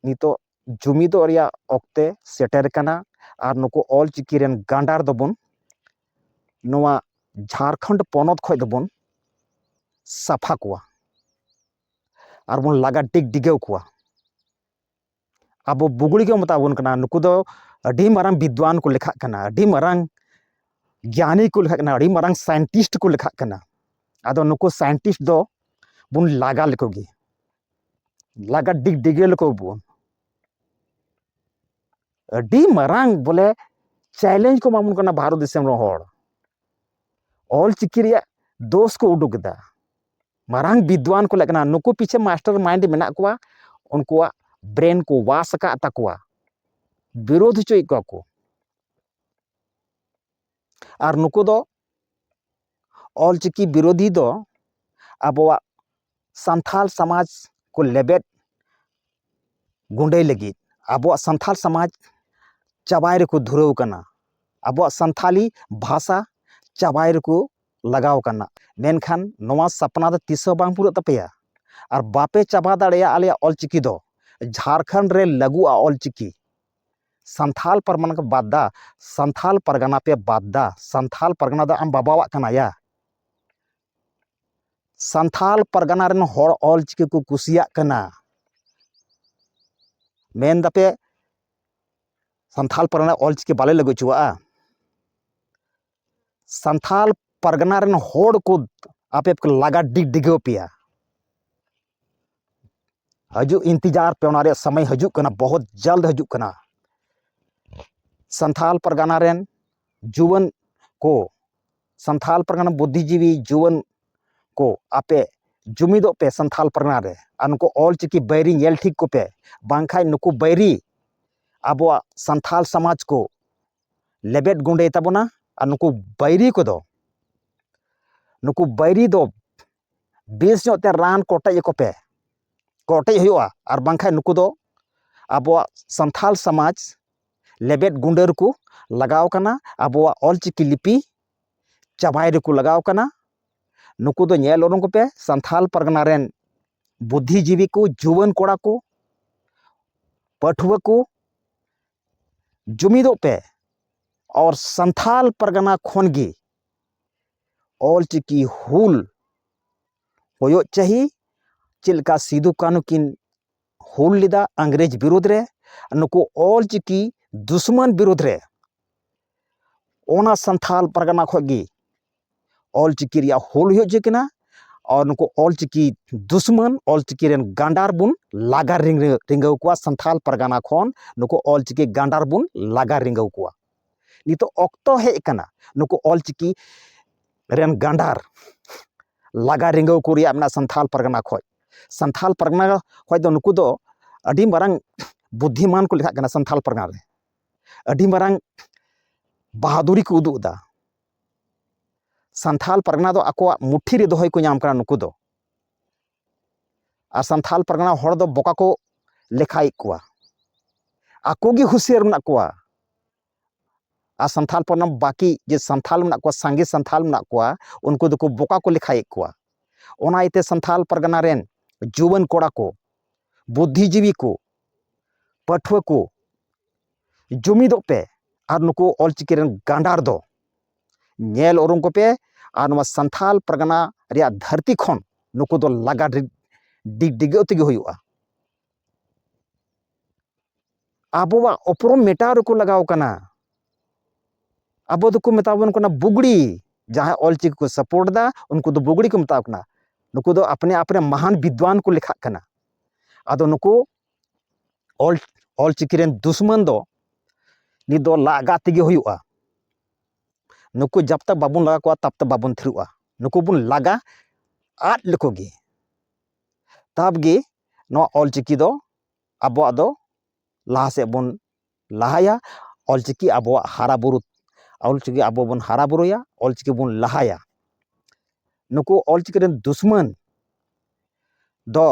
ᱱᱤᱛᱚᱜ ᱡᱩᱢᱤᱫᱚᱜ ᱨᱮᱭᱟᱜ ᱚᱠᱛᱮ ᱥᱮᱴᱮᱨ ᱠᱟᱱᱟ ᱟᱨ ᱱᱩᱠᱩ ᱚᱞ ᱪᱤᱠᱤ ᱨᱮᱱ ᱜᱟᱸᱰᱟᱨ ᱫᱚᱵᱚᱱ ᱱᱚᱣᱟ ᱡᱷᱟᱲᱠᱷᱚᱸᱰ ᱯᱚᱱᱚᱛ ᱠᱷᱚᱱ ᱫᱚᱵᱚᱱ ᱥᱟᱯᱷᱟ ᱠᱚᱣᱟ ᱟᱨᱵᱚᱱ ᱞᱟᱜᱟ ᱰᱤᱜᱽ ᱰᱤᱜᱟᱹᱣ ᱠᱚᱣᱟ ᱟᱵᱚ ᱵᱩᱜᱽᱲᱤ ᱠᱚ ᱢᱮᱛᱟ ᱵᱚᱱ ᱠᱟᱱᱟ ᱱᱩᱠᱩ ᱫᱚ ᱟᱹᱰᱤ ᱢᱟᱨᱟᱝ ᱵᱤᱫᱽᱫᱟᱱ ᱠᱚ ᱞᱮᱠᱷᱟᱜ ᱠᱟᱱᱟ ᱟᱹᱰᱤ ᱢᱟᱨᱟᱝ ᱜᱮᱭᱟᱱᱤ ᱠᱚ ᱞᱮᱠᱷᱟᱜ ᱠᱟᱱᱟ ᱟᱹᱰᱤ ᱢᱟᱨᱟᱝ ᱥᱟᱭᱮᱱᱴᱤᱥᱴ ᱠᱚ ᱞᱮᱠᱷᱟᱜ ᱠᱟᱱᱟ ᱟᱫᱚ ᱱᱩᱠᱩ ᱥᱟᱭᱮᱱᱴᱤᱥᱴ ᱫᱚ ᱵᱚᱱ ᱞᱟᱜᱟ ᱞᱮᱠᱚ ᱜᱮ ᱞᱟᱜᱟ ᱰᱤᱜᱽ ᱰᱤᱜᱮ ᱞᱮᱠᱚ ᱵᱚᱱ ᱟᱹᱰᱤ ᱢᱟᱨᱟᱝ ᱵᱚᱞᱮ ᱪᱮᱞᱮᱧᱡᱽ ᱠᱚ ᱮᱢᱟᱵᱚᱱ ᱠᱟᱱᱟ ᱵᱷᱟᱨᱚᱛ ᱫᱤᱥᱚᱢ ᱨᱮᱱ ᱦᱚᱲ ᱚᱞ ᱪᱤᱠᱤ ᱨᱮᱭᱟᱜ ᱫᱳᱥ ᱠᱚ ᱩᱰᱩᱠ ᱮᱫᱟ ᱢᱟᱨᱟᱝ ᱵᱤᱫᱽᱣᱟᱱ ᱠᱚ ᱞᱟᱜᱟᱜ ᱠᱟᱱᱟ ᱱᱩᱠᱩ ᱯᱤᱪᱷᱮ ᱢᱟᱥᱴᱟᱨ ᱢᱟᱭᱤᱱᱰ ᱢᱮᱱᱟᱜ ᱠᱚᱣᱟ ᱩᱱᱠᱩᱣᱟᱜ ᱵᱨᱮᱱ ᱠᱚ ᱣᱟᱥ ᱟᱠᱟᱫ ᱛᱟᱠᱚᱣᱟ ᱵᱤᱨᱳᱫᱷ ᱦᱚᱪᱚᱭᱮᱫ ᱠᱚᱣᱟ ᱠᱚ ᱟᱨ ᱱᱩᱠᱩ ᱫᱚ ᱚᱞᱪᱤᱠᱤ ᱵᱤᱨᱳᱫᱷᱤ ᱫᱚ ᱟᱵᱚᱣᱟᱜ ᱥᱟᱱᱛᱷᱟᱞ ᱥᱚᱢᱟᱡᱽ ᱠᱚ ᱞᱮᱵᱮᱫ ᱜᱩᱸᱰᱟᱹᱭ ᱞᱟᱹᱜᱤᱫ ᱟᱵᱚᱣᱟᱜ ᱥᱟᱱᱛᱷᱟᱞ ᱥᱚᱢᱟᱡᱽ ᱪᱟᱵᱟᱭ ᱨᱮᱠᱚ ᱫᱷᱩᱨᱟᱹᱣ ᱠᱟᱱᱟ ᱟᱵᱚᱣᱟᱜ ᱥᱟᱱᱛᱷᱟᱞᱤ ᱵᱷᱟᱥᱟ ᱪᱟᱵᱟᱭ ᱨᱮᱠᱚ ᱞᱟᱜᱟᱣ ᱠᱟᱱᱟ ᱢᱮᱱᱠᱷᱟᱱ ᱱᱚᱣᱟ ᱥᱟᱯᱱᱟ ᱫᱚ ᱛᱤᱥ ᱦᱚᱸ ᱵᱟᱝ ᱯᱩᱨᱟᱹᱜ ᱛᱟᱯᱮᱭᱟ ᱟᱨ ᱵᱟᱯᱮ ᱪᱟᱵᱟ ᱫᱟᱲᱮᱭᱟᱜᱼᱟ ᱟᱞᱮᱭᱟᱜ ᱚᱞᱪᱤᱠᱤ ᱫᱚ ᱡᱷᱟᱲᱠᱷᱚᱸᱰ ᱨᱮ ᱞᱟᱹᱜᱩᱜᱼᱟ ᱚᱞᱪᱤᱠᱤ ᱥᱟᱱᱛᱷᱟᱞ ᱯᱟᱨᱜᱟᱱᱟ ᱠᱚ ᱵᱟᱫ ᱫᱟ ᱥᱟᱱᱛᱷᱟᱞ ᱯᱟᱨᱜᱟᱱᱟ ᱯᱮ ᱵᱟᱫ ᱫᱟ ᱥᱟᱱᱛᱷᱟᱞ ᱯᱟᱨᱜᱟᱱᱟ ᱫᱚ ᱟᱢ ᱵᱟᱵᱟᱣᱟᱜ ᱠᱟᱱᱟ ᱭᱟ ᱥᱟᱱᱛᱷᱟᱞ ᱯᱟᱨᱜᱟᱱᱟ ᱨᱮᱱ ᱦᱚᱲ ᱚᱞᱪᱤᱠᱤ ᱠᱚ ᱠᱩᱥᱤᱭᱟᱜ ᱠᱟᱱᱟ ᱢᱮᱱ ᱫᱟᱯᱮ ᱥᱟᱱᱛᱷᱟᱞ ᱯᱟᱨᱜᱟᱱᱟ ᱚᱞᱪᱤᱠᱤ ᱵᱟᱞᱮ ᱞᱟᱹᱜᱩ ᱦᱚᱪᱚᱣᱟᱜᱼᱟ ᱥᱟᱱᱛᱷᱟᱞ ᱯᱟᱨᱜᱟᱱᱟ ᱨᱮᱱ ᱦᱚᱲ ᱠᱚ ᱟᱯᱮ ᱠᱚ ᱞᱟᱜᱟ ᱰᱤᱜᱟᱹᱣ ᱯᱮᱭᱟ ᱦᱤᱡᱩᱜ ᱤᱱᱛᱤᱡᱟᱨ ᱯᱮ ᱚᱱᱟ ᱨᱮᱭᱟᱜ ᱥᱚᱢᱚᱭ ᱦᱤᱡᱩᱜ ᱠᱟᱱᱟ ᱵᱚᱦᱚᱛ ᱡᱟᱞᱫ ᱦᱤᱡᱩᱜ ᱠᱟᱱᱟ ᱥᱟᱱᱛᱷᱟᱞ ᱯᱟᱨᱜᱟᱱᱟ ᱨᱮᱱ ᱡᱩᱣᱟᱹᱱ ᱠᱚ ᱥᱟᱱᱛᱷᱟᱞ ᱯᱟᱨᱜᱟᱱᱟ ᱵᱩᱫᱽᱫᱷᱤᱡᱤᱵᱤ ᱡᱩᱣᱟᱹᱱ ᱠᱚ ᱟᱯᱮ ᱡᱩᱢᱤᱫᱚᱜ ᱯᱮ ᱥᱟᱱᱛᱷᱟᱞ ᱯᱟᱨᱜᱟᱱᱟ ᱨᱮ ᱟᱨ ᱱᱩᱠᱩ ᱚᱞ ᱪᱤᱠᱤ ᱵᱟᱹᱭᱨᱤ ᱧᱮᱞ ᱴᱷᱤᱠ ᱠᱚᱯᱮ ᱵᱟᱝᱠᱷᱟᱡ ᱱᱩᱠᱩ ᱵᱟᱹᱭᱨᱤ ᱟᱵᱚᱣᱟᱜ ᱥᱟᱱᱛᱷᱟᱞ ᱥᱚᱢᱟᱡᱽ ᱠᱚ ᱞᱮᱵᱮᱫ ᱜᱩᱸᱰᱟᱹᱭ ᱛᱟᱵᱚᱱᱟ ᱟᱨ ᱱᱩᱠᱩ ᱵᱟᱹᱭᱨᱤ ᱠᱚᱫᱚ ᱱᱩᱠᱩ ᱵᱟᱹᱭᱨᱤ ᱫᱚ ᱵᱮᱥ ᱧᱚᱜ ᱛᱮ ᱨᱟᱱ ᱠᱚᱴᱮᱡ ᱟᱠᱚ ᱯᱮ ᱠᱚᱴᱮᱡ ᱦᱩᱭᱩᱜᱼᱟ ᱟᱨ ᱵᱟᱝᱠᱷᱟᱱ ᱱᱩᱠᱩ ᱫᱚ ᱟᱵᱚᱣᱟᱜ ᱥᱟᱱᱛᱟᱲ ᱥᱚᱢᱟᱡᱽ ᱞᱮᱵᱮᱫ ᱜᱩᱸᱰᱟᱹ ᱨᱮᱠᱚ ᱞᱟᱜᱟᱣ ᱠᱟᱱᱟ ᱟᱵᱚᱣᱟᱜ ᱚᱞᱪᱤᱠᱤ ᱞᱤᱯᱤ ᱪᱟᱵᱟᱭ ᱨᱮᱠᱚ ᱞᱟᱜᱟᱣ ᱠᱟᱱᱟ ᱱᱩᱠᱩ ᱫᱚ ᱧᱮᱞ ᱩᱨᱩᱢ ᱠᱚᱯᱮ ᱥᱟᱱᱛᱟᱲ ᱯᱟᱨᱜᱟᱱᱟ ᱨᱮᱱ ᱵᱩᱫᱽᱫᱷᱤᱡᱤᱵᱤ ᱠᱚ ᱡᱩᱣᱟᱹᱱ ᱠᱚᱲᱟ ᱠᱚ ᱯᱟᱹᱴᱷᱩᱣᱟᱹ ᱠᱚ ᱡᱩᱢᱤᱫᱚᱜ ᱯᱮ ᱟᱨ ᱥᱟᱱᱛᱷᱟᱞ ᱯᱟᱨᱜᱟᱱᱟ ᱠᱷᱚᱱ ᱜᱮ ᱚᱞ ᱪᱤᱠᱤ ᱦᱩᱞ ᱦᱩᱭᱩᱜ ᱪᱟᱹᱦᱤ ᱪᱮᱫ ᱞᱮᱠᱟ ᱥᱤᱫᱩ ᱠᱟᱹᱱᱩ ᱠᱤᱱ ᱦᱩᱞ ᱞᱮᱫᱟ ᱤᱝᱨᱮᱡᱽ ᱵᱤᱨᱩᱫᱽ ᱨᱮ ᱱᱩᱠᱩ ᱚᱞ ᱪᱤᱠᱤ ᱫᱩᱥᱢᱚᱱ ᱵᱤᱨᱩᱫᱽ ᱨᱮ ᱚᱱᱟ ᱥᱟᱱᱛᱟᱲ ᱯᱟᱨᱜᱟᱱᱟ ᱠᱷᱚᱱ ᱜᱮ ᱚᱞ ᱪᱤᱠᱤ ᱨᱮᱭᱟᱜ ᱦᱩᱞ ᱦᱩᱭ ᱦᱚᱪᱚᱭᱮ ᱠᱟᱱᱟ ᱟᱨ ᱱᱩᱠᱩ ᱚᱞ ᱪᱤᱠᱤ ᱫᱩᱥᱢᱚᱱ ᱚᱞ ᱪᱤᱠᱤ ᱨᱮᱱ ᱜᱟᱱᱰᱟᱨ ᱵᱚᱱ ᱞᱟᱜᱟ ᱨᱤᱸᱜᱟᱹᱣ ᱠᱚᱣᱟ ᱥᱟᱱᱛᱟᱲ ᱯᱟᱨᱜᱟᱱᱟ ᱠᱷᱚᱱ ᱱᱩᱠᱩ ᱚᱞ ᱪᱤᱠᱤ ᱜᱟᱱᱰᱟᱨ ᱵᱚᱱ ᱞᱟᱜᱟ ᱨᱤᱸᱜᱟᱹᱣ ᱠᱚᱣᱟ ᱱᱤᱛᱚᱜ ᱚᱠᱛᱚ ᱦᱮᱡ ᱟᱠᱟᱱᱟ ᱱᱩᱠᱩ ᱚᱞ ᱪᱤᱠᱤ ᱨᱮᱱ ᱜᱟᱱᱰᱟᱨ ᱞᱟᱜᱟ ᱨᱤᱸᱜᱟᱹᱣ ᱠᱚ ᱨᱮᱭᱟᱜ ᱢᱮᱱᱟᱜᱼᱟ ᱥᱟᱱᱛᱟᱲ ᱯᱟᱨᱜᱟᱱᱟ ᱠᱷᱚᱱ ᱥᱟᱱᱛᱟᱲ ᱯᱟᱨᱜᱟᱱᱟ ᱠᱷᱚᱱ ᱫᱚ ᱱᱩᱠᱩ ᱫᱚ ᱟᱹᱰᱤ ᱢᱟᱨᱟᱝ ᱵᱩᱫᱽᱫᱷᱤᱢᱟᱱ ᱠᱚ ᱞᱮᱠᱷᱟᱜ ᱠᱟᱱᱟ ᱥᱟᱱᱛᱟᱲ ᱯᱟᱨᱜᱟᱱᱟ ᱨᱮ ᱟᱹᱰᱤ ᱢᱟᱨᱟᱝ ᱵᱟᱦᱟᱫᱩᱨᱤ ᱠᱚ ᱩᱫᱩᱜ ᱮᱫᱟ ᱥᱟᱱᱛᱷᱟᱞ ᱯᱟᱨᱜᱟᱱᱟ ᱫᱚ ᱟᱠᱚᱣᱟᱜ ᱢᱩᱴᱷᱤ ᱨᱮ ᱫᱚᱦᱚᱭ ᱠᱚ ᱧᱟᱢ ᱠᱟᱱᱟ ᱱᱩᱠᱩ ᱫᱚ ᱟᱨ ᱥᱟᱱᱛᱷᱟᱞ ᱯᱟᱨᱜᱟᱱᱟ ᱦᱚᱲ ᱫᱚ ᱵᱚᱠᱟ ᱠᱚ ᱞᱮᱠᱷᱟᱭᱮᱫ ᱠᱚᱣᱟ ᱟᱠᱚ ᱜᱮ ᱦᱩᱥᱤᱭᱟᱨ ᱢᱮᱱᱟᱜ ᱠᱚᱣᱟ ᱟᱨ ᱥᱟᱱᱛᱷᱟᱞ ᱯᱟᱨᱜᱟᱱᱟ ᱵᱟᱹᱠᱤ ᱡᱮ ᱥᱟᱱᱛᱷᱟᱞ ᱢᱮᱱᱟᱜ ᱠᱚᱣᱟ ᱥᱟᱸᱜᱮ ᱥᱟᱱᱛᱷᱟᱞ ᱢᱮᱱᱟᱜ ᱠᱚᱣᱟ ᱩᱱᱠᱩ ᱫᱚᱠᱚ ᱵᱚᱠᱟ ᱠᱚ ᱞᱮᱠᱷᱟᱭᱮᱫ ᱠᱚᱣᱟ ᱚᱱᱟ ᱤᱭᱟᱹᱛᱮ ᱥᱟᱱᱛᱷᱟᱞ ᱯᱟᱨᱜᱟᱱᱟ ᱨᱮᱱ ᱡᱩᱣᱟᱹᱱ ᱠᱚᱲᱟ ᱠᱚ ᱵᱩᱫᱽᱫᱷᱤᱡᱤᱵᱤ ᱠᱚ ᱯᱟᱹᱴᱷᱩᱣᱟᱹ ᱠᱚ ᱡᱩᱢᱤᱫᱚᱜ ᱯᱮ ᱟᱨ ᱱᱩᱠᱩ ᱚᱞ ᱪᱤᱠᱤ ᱨᱮᱱ ᱜᱟᱸᱰᱟᱨ ᱫᱚ ᱧᱮᱞ ᱩᱨᱩᱢ ᱠᱚᱯᱮ ᱟᱨ ᱱᱚᱣᱟ ᱥᱟᱱᱛᱷᱟᱞ ᱯᱟᱨᱜᱟᱱᱟ ᱨᱮᱭᱟᱜ ᱫᱷᱟᱹᱨᱛᱤ ᱠᱷᱚᱱ ᱱᱩᱠᱩ ᱫᱚ ᱞᱟᱜᱟ ᱰᱤᱜᱟᱹᱣ ᱛᱮᱜᱮ ᱦᱩᱭᱩᱜᱼᱟ ᱟᱵᱚᱣᱟᱜ ᱩᱯᱨᱩᱢ ᱢᱮᱴᱟᱣ ᱨᱮᱠᱚ ᱞᱟᱜᱟᱣ ᱠᱟᱱᱟ ᱟᱵᱚ ᱫᱚᱠᱚ ᱢᱮᱛᱟ ᱵᱚᱱ ᱠᱟᱱᱟ ᱵᱩᱜᱽᱲᱤ ᱡᱟᱦᱟᱸᱭ ᱚᱞ ᱪᱤᱠᱤ ᱠᱚ ᱥᱟᱯᱳᱨᱴ ᱫᱟ ᱩᱱᱠᱩ ᱫᱚ ᱵᱩᱜᱽᱲᱤ ᱠᱚ ᱢᱮᱛᱟ ᱠᱚ ᱠᱟᱱᱟ ᱱᱩᱠᱩ ᱫᱚ ᱟᱯᱱᱮ ᱟᱯᱱᱮ ᱢᱟᱦᱟᱱ ᱵᱤᱫᱽᱣᱟᱱ ᱠᱚ ᱞᱮᱠᱷᱟᱜ ᱠᱟᱱᱟ ᱟᱫᱚ ᱱᱩᱠᱩ ᱚᱞ ᱚᱞ ᱪᱤᱠᱤ ᱨᱮᱱ ᱫᱩᱥᱢᱟᱹᱱ ᱫᱚ ᱱᱤᱛ ᱫᱚ ᱞᱟᱜᱟ ᱛᱮᱜᱮ ᱦᱩᱭᱩᱜᱼᱟ ᱱᱩᱠᱩ ᱡᱟᱵ ᱛᱟᱠ ᱵᱟᱵᱚᱱ ᱞᱟᱜᱟ ᱠᱚᱣᱟ ᱛᱟᱵ ᱛᱟᱠ ᱵᱟᱵᱚᱱ ᱛᱷᱤᱨᱚᱜᱼᱟ ᱱᱩᱠᱩ ᱵᱚᱱ ᱞᱟᱜᱟ ᱟᱫ ᱞᱮᱠᱚ ᱜᱮ ᱛᱟᱵ ᱜᱮ ᱱᱚᱣᱟ ᱚᱞ ᱪᱤᱠᱤ ᱫᱚ ᱟᱵᱚᱣᱟᱜ ᱫᱚ ᱞᱟᱦᱟ ᱥᱮᱫ ᱵᱚᱱ ᱞᱟᱦᱟᱭᱟ ᱚᱞᱪᱤᱠᱤ ᱟᱵᱚᱣᱟᱜ ᱦᱟᱨᱟ ᱵᱩᱨᱩ ᱚᱞᱪᱤᱠᱤ ᱟᱵᱚ ᱵᱚᱱ ᱦᱟᱨᱟ ᱵᱩᱨᱩᱭᱟ ᱚᱞᱪᱤᱠᱤ ᱵᱚᱱ ᱞᱟᱦᱟᱭᱟ ᱱᱩᱠᱩ ᱚᱞᱪᱤᱠᱤ ᱨᱮᱱ ᱫᱩᱥᱢᱟᱹᱱ ᱫᱚ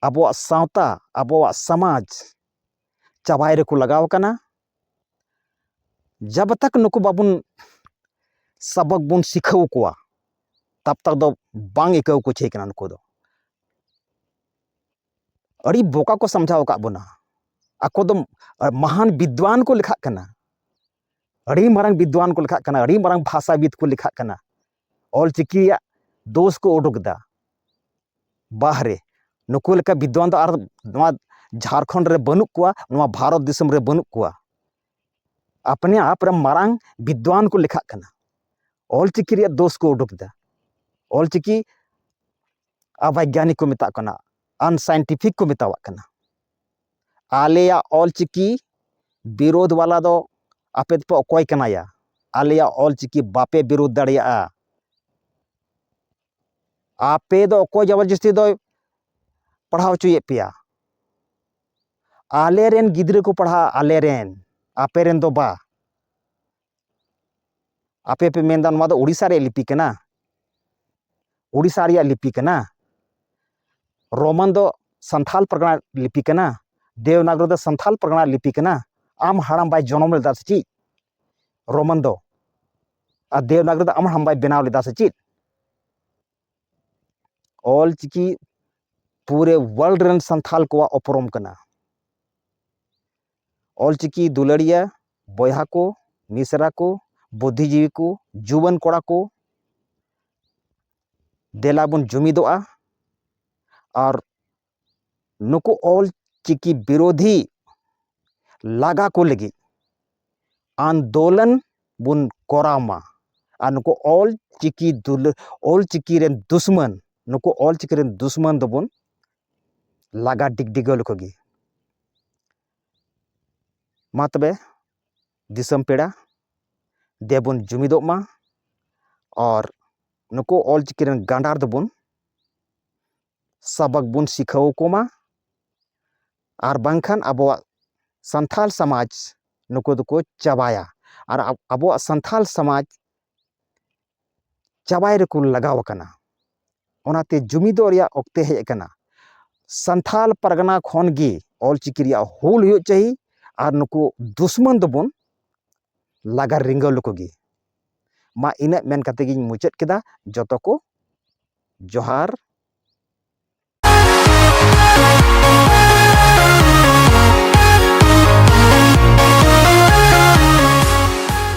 ᱟᱵᱚᱣᱟᱜ ᱥᱟᱶᱛᱟ ᱟᱵᱚᱣᱟᱜ ᱥᱟᱢᱟᱡᱽ ᱪᱟᱵᱟᱭ ᱨᱮᱠᱚ ᱞᱟᱜᱟᱣ ᱠᱟᱱᱟ ᱡᱟᱵ ᱛᱟᱠ ᱱᱩᱠᱩ ᱵᱟᱵᱚᱱ ᱥᱟᱵᱚᱠ ᱵᱚᱱ ᱥᱤᱠᱷᱟᱹᱣ ᱠᱚᱣᱟ ᱛᱟᱵ ᱛᱟᱠ ᱫᱚ ᱵᱟᱝ ᱟᱹᱭᱠᱟᱹᱣ ᱠᱚ ᱪᱟᱹᱭ ᱠᱟᱱᱟ ᱱᱩᱠᱩ ᱫᱚ ᱟᱹᱰᱤ ᱵᱚᱠᱟ ᱠᱚ ᱥᱟᱢᱡᱷᱟᱣ ᱟᱠᱟᱫ ᱵᱚᱱᱟ ᱟᱠᱚ ᱫᱚ ᱢᱟᱦᱟᱱ ᱵᱤᱫᱽᱣᱟᱱ ᱠᱚ ᱞᱮᱠᱷᱟᱜ ᱠᱟᱱᱟ ᱟᱹᱰᱤ ᱢᱟᱨᱟᱝ ᱵᱤᱫᱽᱣᱟᱱ ᱠᱚ ᱞᱮᱠᱷᱟᱜ ᱠᱟᱱᱟ ᱟᱹᱰᱤ ᱢᱟᱨᱟᱝ ᱵᱷᱟᱥᱟᱵᱤᱫ ᱠᱚ ᱞᱮᱠᱷᱟᱜ ᱠᱟᱱᱟ ᱚᱞ ᱪᱤᱠᱤᱭᱟᱜ ᱫᱳᱥ ᱠᱚ ᱩᱰᱩᱠ ᱮᱫᱟ ᱵᱟᱦᱨᱮ ᱱᱩᱠᱩ ᱞᱮᱠᱟ ᱵᱤᱫᱽᱣᱟᱱ ᱫᱚ ᱟᱨ ᱱᱚᱣᱟ ᱡᱷᱟᱲᱠᱷᱚᱸᱰ ᱨᱮ ᱵᱟᱹᱱᱩᱜ ᱠᱚᱣᱟ ᱱᱚᱣᱟ ᱵᱷᱟᱨᱚᱛ ᱫᱤᱥᱚᱢ ᱨᱮ ᱵᱟᱹᱱᱩᱜ ᱠᱚᱣᱟ ᱟᱯᱱᱮ ᱟᱯ ᱨᱮ ᱢᱟᱨᱟᱝ ᱵᱤᱫᱽᱣᱟᱱ ᱠᱚ ᱞᱮᱠᱷᱟᱜ ᱠᱟᱱᱟ ᱚᱞ ᱪᱤᱠᱤ ᱨᱮᱭᱟᱜ ᱫᱳᱥ ᱠᱚ ᱩᱰᱩᱠ ᱮᱫᱟ ᱚᱞ ᱪᱤᱠᱤ ᱚᱵᱟᱭᱜᱟᱱᱤᱠ ᱠᱚ ᱢᱮᱛᱟᱜ ᱠᱟᱱᱟ ᱟᱱᱥᱟᱭᱮᱱᱴᱤᱯᱷᱤᱠ ᱠᱚ ᱢᱮᱛᱟᱣᱟᱜ ᱠᱟᱱᱟ ᱟᱞᱮᱭᱟᱜ ᱚᱞᱪᱤᱠᱤ ᱵᱤᱨᱳᱫᱷ ᱵᱟᱞᱟ ᱫᱚ ᱟᱯᱮ ᱫᱚᱯᱮ ᱚᱠᱚᱭ ᱠᱟᱱᱟᱭᱟ ᱟᱞᱮᱭᱟᱜ ᱚᱞᱪᱤᱠᱤ ᱵᱟᱯᱮ ᱵᱤᱨᱳᱫᱷ ᱫᱟᱲᱮᱭᱟᱜᱼᱟ ᱟᱯᱮ ᱫᱚ ᱚᱠᱚᱭ ᱡᱚᱵᱚᱨᱡᱚᱥᱛᱤ ᱫᱚᱭ ᱯᱟᱲᱦᱟᱣ ᱦᱚᱪᱚᱭᱮᱫ ᱯᱮᱭᱟ ᱟᱞᱮᱨᱮᱱ ᱜᱤᱫᱽᱨᱟᱹ ᱠᱚ ᱯᱟᱲᱦᱟᱜᱼᱟ ᱟᱞᱮᱨᱮᱱ ᱟᱯᱮᱨᱮᱱ ᱫᱚ ᱵᱟ ᱟᱯᱮ ᱯᱮ ᱢᱮᱱᱫᱟ ᱱᱚᱣᱟ ᱫᱚ ᱳᱰᱤᱥᱟ ᱨᱮᱭᱟᱜ ᱞᱤᱯᱤ ᱠᱟᱱᱟ ᱳᱰᱤᱥᱟ ᱨᱮᱭᱟᱜ ᱞᱤᱯᱤ ᱠᱟᱱᱟ ᱨᱳᱢᱟᱱ ᱫᱚ ᱥᱟᱱᱛᱷᱟᱞ ᱯᱟᱨᱜᱟᱱᱟ ᱞᱤᱯᱤ ᱠᱟᱱᱟ ᱫᱮᱣᱱᱟᱜᱨᱤ ᱫᱚ ᱥᱟᱱᱛᱷᱟᱞ ᱯᱟᱨᱜᱟᱱᱟ ᱞᱤᱯᱤ ᱠᱟᱱᱟ ᱟᱢ ᱦᱟᱲᱟᱢ ᱵᱟᱭ ᱡᱚᱱᱚᱢ ᱞᱮᱫᱟ ᱥᱮ ᱪᱮᱫ ᱨᱳᱢᱟᱱ ᱫᱚ ᱟᱨ ᱫᱮᱣᱱᱟᱜᱨᱤ ᱫᱚ ᱟᱢ ᱦᱟᱲᱟᱢ ᱵᱟᱭ ᱵᱮᱱᱟᱣ ᱞᱮᱫᱟ ᱥᱮ ᱪᱮᱫ ᱚᱞ ᱪᱤᱠᱤ ᱯᱩᱨᱮ ᱣᱟᱨᱞᱰ ᱨᱮᱱ ᱥᱟᱱᱛᱷᱟᱞ ᱠᱚᱣᱟᱜ ᱩᱯᱨᱩᱢ ᱠᱟᱱᱟ ᱚᱞᱪᱤᱠᱤ ᱫᱩᱞᱟᱹᱲᱤᱭᱟᱹ ᱵᱚᱭᱦᱟ ᱠᱚ ᱢᱤᱥᱨᱟ ᱠᱚ ᱵᱩᱫᱽᱫᱷᱤ ᱡᱤᱵᱤ ᱠᱚ ᱡᱩᱣᱟᱹᱱ ᱠᱚᱲᱟ ᱠᱚ ᱫᱮᱞᱟ ᱵᱚᱱ ᱡᱩᱢᱤᱫᱚᱜᱼᱟ ᱟᱨ ᱱᱩᱠᱩ ᱚᱞᱪᱤᱠᱤ ᱵᱤᱨᱳᱫᱷᱤ ᱞᱟᱜᱟ ᱠᱚ ᱞᱟᱹᱜᱤᱫ ᱟᱱᱫᱳᱞᱚᱱ ᱵᱚᱱ ᱠᱚᱨᱟᱣ ᱢᱟ ᱟᱨ ᱱᱩᱠᱩ ᱚᱞᱪᱤᱠᱤ ᱫᱩᱞᱟᱹᱲ ᱚᱞᱪᱤᱠᱤ ᱨᱮᱱ ᱫᱩᱥᱢᱟᱹᱱ ᱱᱩᱠᱩ ᱚᱞᱪᱤᱠᱤ ᱨᱮᱱ ᱫᱩᱥᱢᱟᱹᱱ ᱫᱚᱵᱚᱱ ᱞᱟᱜᱟ ᱰᱤᱜᱽᱰᱤᱜᱟᱹᱣ ᱞᱮᱠᱚ ᱜᱮ ᱢᱟ ᱛᱚᱵᱮ ᱫᱤᱥᱚᱢ ᱯᱮᱲᱟ ᱫᱮᱵᱚᱱ ᱡᱩᱢᱤᱫᱚᱜ ᱢᱟ ᱟᱨ ᱱᱩᱠᱩ ᱚᱞ ᱪᱤᱠᱤ ᱨᱮᱱ ᱜᱟᱸᱰᱟᱨ ᱫᱚᱵᱚᱱ ᱥᱟᱵᱟᱠ ᱵᱚᱱ ᱥᱤᱠᱷᱟᱹᱣ ᱟᱠᱚ ᱢᱟ ᱟᱨ ᱵᱟᱝᱠᱷᱟᱱ ᱟᱵᱚᱣᱟᱜ ᱥᱟᱱᱛᱟᱲ ᱥᱚᱢᱟᱡᱽ ᱱᱩᱠᱩ ᱫᱚᱠᱚ ᱪᱟᱵᱟᱭᱟ ᱟᱨ ᱟᱵᱚᱣᱟᱜ ᱥᱟᱱᱛᱟᱲ ᱥᱚᱢᱟᱡᱽ ᱪᱟᱵᱟᱭ ᱨᱮᱠᱚ ᱞᱟᱜᱟᱣ ᱟᱠᱟᱱᱟ ᱚᱱᱟᱛᱮ ᱡᱩᱢᱤᱫᱚᱜ ᱨᱮᱭᱟᱜ ᱚᱠᱛᱮ ᱦᱮᱡ ᱟᱠᱟᱱᱟ ᱥᱟᱱᱛᱷᱟᱞ ᱯᱟᱨᱜᱟᱱᱟ ᱠᱷᱚᱱ ᱜᱮ ᱚᱞ ᱪᱤᱠᱤ ᱨᱮᱭᱟᱜ ᱦᱩᱞ ᱦᱩᱭᱩᱜ ᱪᱟᱹᱦᱤ ᱟᱨ ᱱᱩᱠᱩ ᱫᱩᱥᱢᱚᱱ ᱫᱚᱵᱚᱱ ᱞᱟᱜᱟ ᱨᱤᱸᱜᱟᱹᱣ ᱞᱮᱠᱚ ᱜᱮ ᱢᱟ ᱤᱱᱟᱹᱜ ᱢᱮᱱ ᱠᱟᱛᱮ ᱜᱤᱧ ᱢᱩᱪᱟᱹᱫ ᱠᱮᱫᱟ ᱡᱚᱛᱚ ᱠᱚ ᱡᱚᱦᱟᱨ